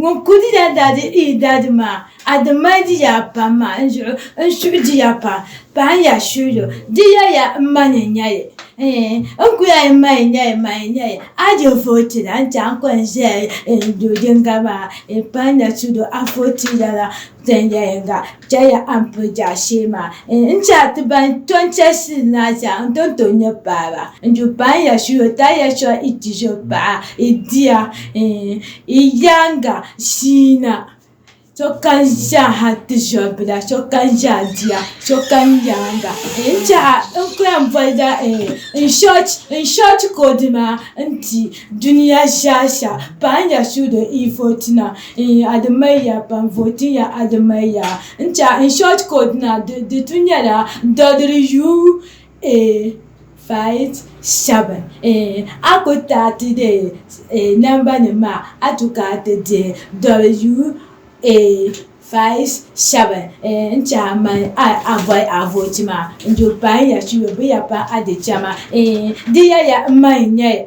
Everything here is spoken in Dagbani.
Ŋun ku di daa daa di i daa di maa, a di mali di ya pam maa n zuɣu n suhi di ya pam pahi ya suhilo. Di ya ya n ma ni n nya yi. Eeh, n ku ya yi ma yi nya yi ma yi nya yi. A di vooti la n-ti a n kɔŋ zaya yi n do yiŋga maa, yi pahi na tudo a vooti lala. Tɛnjɛ yiŋga chɛliya a ni pili jaashee maa N chɛ a ti ban to n chɛ shili ni a chɛ a n-ti ni tooi nyɛ baaba N ju baŋ ya shili o taliya chuɣu i chizo paɣa i dia i yaaŋa shii na Sokam zaaha ti zɔribila sokam zaa dia sokam yaaŋa N chɛ a n ku yɛn bolila n short code maa n-ti dunia zaasa paŋ ya suudo ivoti na in Ademeiya ban vooti ya Ademeiya n cha in short code na di tu nyɛla WU857 in a ku taati de namba nim maa a tu ka ti dihi WU857 n cha man a boli a vooti maa n du pain ya chiyo bɛ ya pa a di chama in di ya ya n man nyɛ